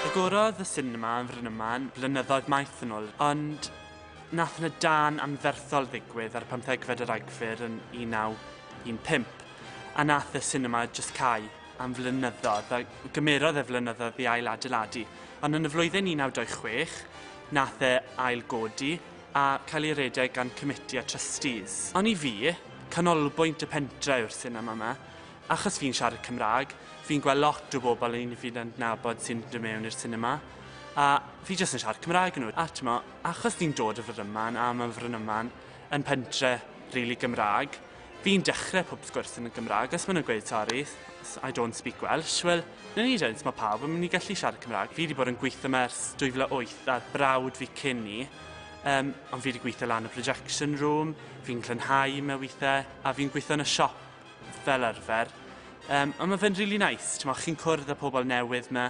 Agorodd y sinema yn Frynyman blynyddoedd maith yn ôl, ond nath na dan anferthol ddigwydd ar pymthegfed yr Agfyr yn 1915, a nath y sinema just cau am flynyddoedd, a gymerodd e flynyddoedd i ail adeiladu. Ond yn y flwyddyn 1926, nath e ail godi, a cael ei redeg gan Committee a Trustees. Ond i fi, canolbwynt y pentre yw'r sinema 'ma. Achos fi'n siarad Cymraeg, fi'n gweld lot o bobl un fi'n adnabod sy'n dod mewn i'r sinema, a fi jyst yn siarad Cymraeg yn nhw. A t'mo', achos fi'n dod o Frynyman, a ma' Frynyman yn pentre rili Gymraeg, Fi'n dechrau pob sgwrs yn y Gymraeg, os maen nhw'n gweud sorry, I don't speak Welsh, wel, na ni dweud, mae pawb yn mynd i gallu siarad Cymraeg. Fi wedi bod yn gweithio yma ers 2008 a'r brawd fi cyn ni, um, ond fi wedi gweithio lan y projection room, fi'n llynhau mewn weithiau, a fi'n gweithio yn y siop fel arfer. Um, ond mae fe'n really nice, ti'n chi'n cwrdd â pobl newydd yma,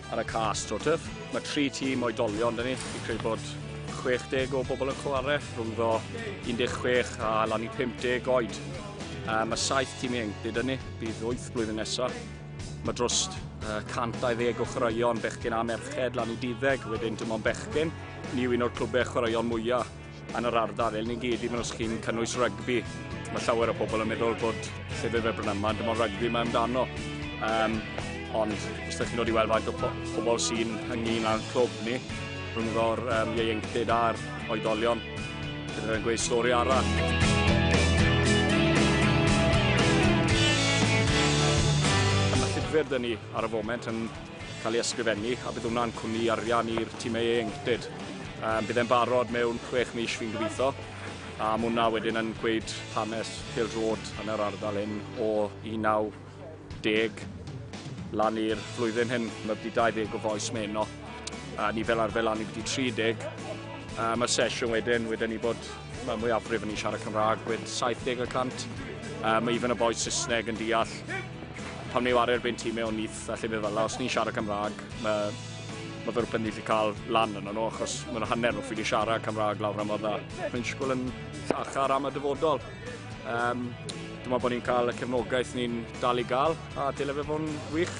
Ar y cas AstroTurf, mae tri tîm oedolion dyn ni. Fi'n credu bod 60 o bobl yn chwarae, rhwngddo 16 a lan i 50 oed. Uh, mae saith tîm ieuenctid yn ni, bydd wyth blwyddyn nesaf. Mae dros uh, 120 o chwaraeon bechgyn a merched lan i diddeg, wedyn dim ond bechgyn. Ni yw un o'r clwbau chwaraeon mwyaf Yn yr ardal, elni gyd, even os chi'n cynnwys rygbi, mae llawer o pobl yn meddwl bod llefydd fel Brynama, dim ond rygbi mae amdano. Um, ond os ydych chi'n dod i weld faint o pobl sy'n ynglyn â'n clwb ni, rhyngddo'r um, ieuenctid a'r oedolion, bydd yn gweud stori arall. Mae llyfr dyn ni ar y foment yn cael ei ysgrifennu a bydd hwnna'n cwmni arian i'r tîmau ieuenctid. Um, bydd e'n barod mewn chwech mis fi'n gobeithio a mae hwnna wedyn yn gweud hanes Hill Road yn yr ardal hyn o 19 lan i'r flwyddyn hyn. Mae wedi 20 o foes meno a ni fel arfer lan i wedi 30. A mae'r sesiwn wedyn, wedyn ni bod mae mwyafrif yn ei siarad Cymraeg, gwed 70 y cant. Uh, mae even y boes Saesneg yn deall. Pam ni wario erbyn tîm mewn ni Felly fe falla, os ni'n siarad Cymraeg, mae, mae fy rhywbeth ni wedi cael lan yna nhw, achos mae'n hanner nhw ffili siarad Cymraeg lawr am dda. Mae'n siŵr yn llachar am y dyfodol. Um, dwi'n meddwl bod ni'n cael y cefnogaeth ni'n dal i gael, a dyle fe fod yn wych.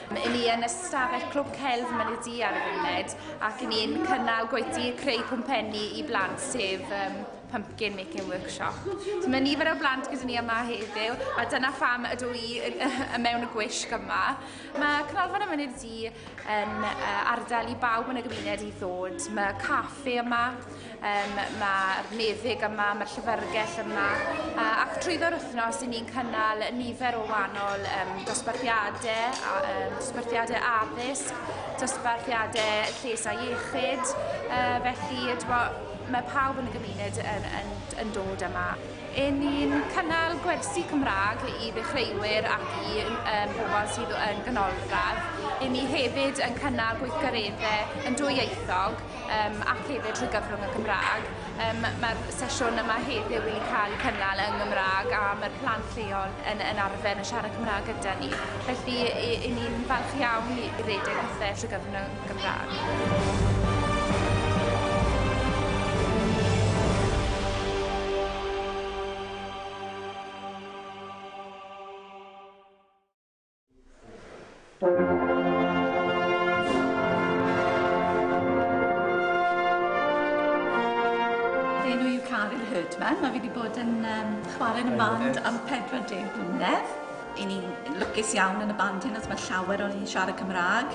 Mae ni yn ystafell Clwb Celf Mynedi ar y funud ac ni'n cynnal gweithdy creu pwmpenni i blant sef um, Pumpkin Making Workshop. So mae nifer o blant gyda ni yma heddiw a dyna pham ydw i y mewn y gwisg yma. Mae Cynolfan y Myned Di yn uh, ardal i bawb yn y gymuned i ddod. Mae caffe yma, Um, mae'r meddyg yma, mae'r llyfrgell yma, uh, ac trwyddo'r wythnos i ni'n cynnal nifer o wahanol um, dosbarthiadau, um, dosbarthiadau addysg, dosbarthiadau lles a iechyd, uh, felly dwa, mae pawb yn y gymuned yn, yn, yn dod yma. E ni'n cynnal gwersi Cymraeg i ddechreuwyr ac i um, bobl sydd yn ganolradd. E ni hefyd yn cynnal gweithgareddau yn dwyieithog um, ac hefyd trwy gyfrwng y Gymraeg. Um, Mae'r sesiwn yma heddiw yn cael cynnal yng Gymraeg a mae'r plant lleol yn, yn arfer yn siarad Cymraeg gyda ni. Felly, i, i ni'n falch iawn i, i redeg pethau trwy gyfrwng y Gymraeg. Enw yw Caryn Herdman, mae fi wedi bod yn um, chwarae yn y band am 40 mlynedd. I ni'n lwcus iawn yn y band hyn, os mae llawer o'n i'n siarad Cymraeg,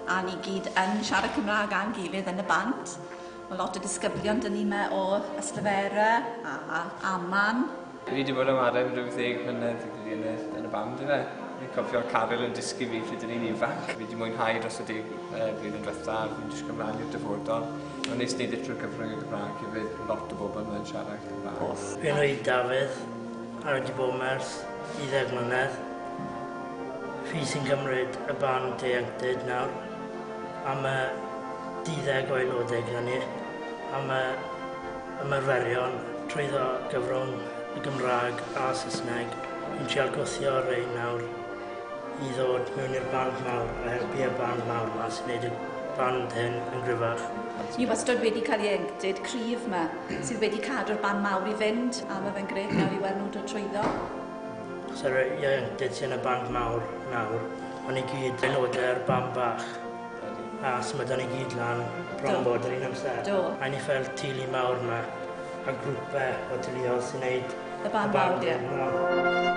a ni gyd yn siarad Cymraeg a'n gilydd yn y band. Mae lot o disgyblion dyn ni yma o Yslefera a Aman Fi di bod yn ware am ryw ddeg mlynedd fi'n credu yn y band yfe. Fi'n cofio Caryl yn dysgu fi pryd o'n i'n ifanc. Fi di mwynhau dros y deg blwyddyn dwetha a fi'n disgwyl mlan i'r dyfodol. Ma'n neis neud e trwy'r gyfrwng y Gymraeg hefyd, lot o bobl ma'n siarad Cymraeg. Off. Fy enw i Dafydd a fi di bod yma ers deuddeg mlynedd. Fi sy'n cymryd y band ieuenctid nawr am y duddeg o aelodau gyda ni a ma' ymarferion trwyddo gyfrwng y Gymraeg a Saesneg yn trial gwthio rei nawr i ddod mewn i'r band mawr a helpu y band mawr ma sy'n neud y band hyn yn gryfach. Ni wastod wedi cael ieuenctid cryf ma sydd wedi cadw'r band mawr i fynd a ma fe'n grêt nawr i weld nhw'n dod trwyddo. Os yr ieuenctid sy'n y band mawr nawr, ma ni gyd yn ode'r band bach. A os ma' 'da ni gyd lan bron bod yr un amser. Do. A ni fel teulu mawr 'ma a grwpe o teuluodd sy'n neud y barn mawr ie. Y barn mawr.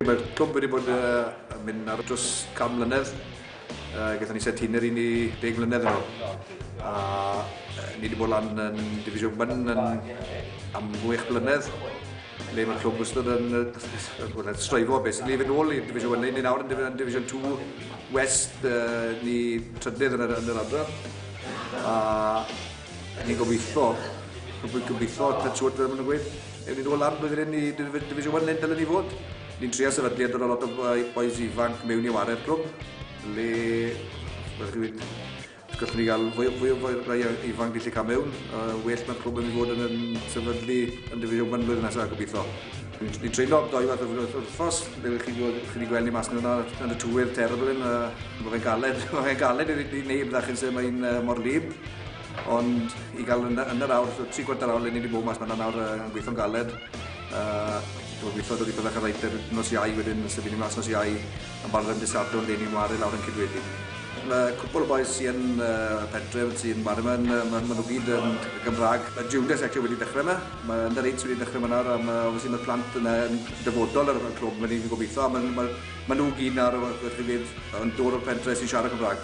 Mae clwb wedi bod uh, yn mynd ar dros cam mlynedd. Uh, Gaethon ni set hynny'r un i deg mlynedd yn ôl. A uh, ni wedi bod lan yn Division 1 yn am gwych blynedd. Le mae clwb wastad yn uh, stroifo, beth ni fynd ôl i Division 1, ni nawr yn Division 2 West, uh, ni trydydd yn yr, yn yr adran. A ni'n gobeithio, gobeithio, ta siwr dyn nhw'n gweud, ewn ni'n ôl lan blwyddyn hyn i Division 1 neu dylen ni fod. Ni'n trio sefydlu a dod o lot o boes ifanc mewn i ware'r clwb, le, fel chi wedi Gallwn ni gael fwy, fwy o rai ifanc gallu cael mewn. Uh, well mae'r clwb yn mynd i fod yn, yn sefydlu yn Division 1 blwyddyn nesaf, gobeithio. Ni'n treulio doi fath o wythnos, fe chi wedi gweld ni mas yna yn y tywydd terrible yn, uh, mae fe'n galed, mae fe'n galed i neb ddachyn sy'n mae'n uh, mor lib. Ond i gael yn, yn yr awr, tri gwarter awr le ni wedi bod mas yna nawr uh, yn gweithio'n galed. Uh, Dwi'n gweithio dod i byddach ar reiter nos iau wedyn, sef ni'n mas nos iau. Yn barod am dy Sadwrn dde ni'n waru lawr yn Cydweli. Mae cwpl o bois sy yn y pentref sy'n waru yma, maen nhw gyd yn Gymraeg. Mae Judas actually wedi dechrau yma, mae Under Eights wedi dechrau yma nawr a mae obviously mae'r plant yna yn dyfodol ar y clwb, mae ni'n gobeithio a maen nhw gyd nawr rhywbeth rhywbeth yn dod o'r pentref sy'n siarad Cymraeg.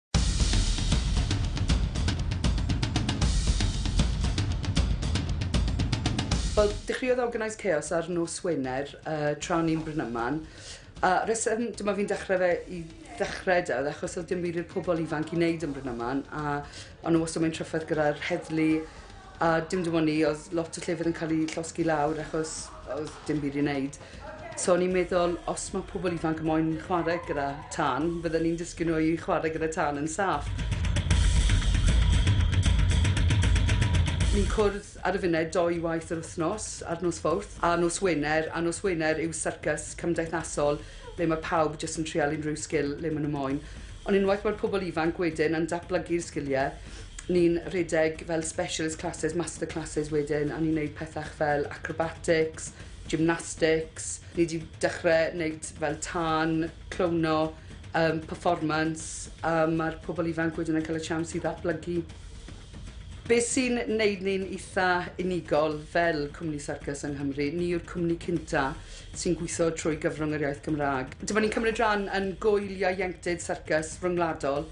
Wel, dechreuodd Organise Chaos ar nos Wener uh, tra o'n i'n Brynyman. A reswm, dyma fi'n dechrau fe i ddechrau da, achos oedd dim byd i'r pobl ifanc i wneud yn Brynyman. A o'n nhw wastad mewn trafferth gyda'r heddlu A dim dim ond ni, oedd lot o llefydd yn cael eu llosgi lawr achos oedd dim byd i wneud. So o'n i'n meddwl, os mae pobl ifanc yn moyn chwarae gyda tân, fydden ni'n dysgu nhw i chwarae gyda tân yn saff. Ni'n cwrdd ar y funud dou waith yr wythnos, ar nos Fawrth a nos Wener, a nos Wener yw syrcas cymdeithasol le mae pawb jyst yn trial unrhyw sgil le maen nhw moyn. Ond unwaith mae'r pobl ifanc wedyn yn datblygu'r sgiliau, Ni'n rhedeg fel specialist classes, master classes wedyn a ni'n neud pethach fel acrobatics, gymnastics, ni 'di dechre neud fel tân, clowno, yym performance a ma'r pobol ifanc wedyn yn ca'l y siawns i ddatblygu. Be' sy'n neud ni'n itha unigol fel cwmni syrcas yng Nghymru, ni yw'r cwmni cynta sy'n gweithio trwy gyfrwng yr iaith Gymraeg. Dyma ni'n cymryd rhan yn Gŵyl Ieuenctid Syrcas Ryngwladol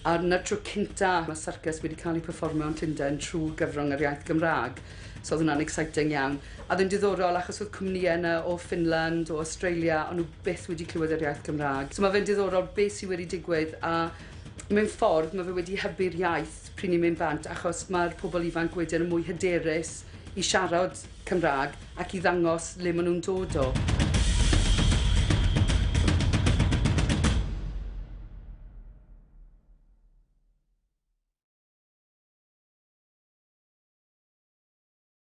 a dyna'r tro cynta' ma' syrcas wedi cael ei pefformio yn Llundain trwy gyfrwng yr iaith Gymraeg, so oedd hwnna'n exciting iawn. A oedd e'n diddorol achos oedd cwmnïau yna o Ffinland, o Awstralia, o'n nhw byth wedi clywed yr iaith Gymraeg. So ma' fe'n diddorol be' sy wedi digwydd a mewn ffordd ma' fe wedi hybu'r iaith pryd ni'n mynd bant achos ma'r pobl ifanc wedyn yn mwy hyderus i siarad Cymraeg ac i ddangos le maen nhw'n dod o.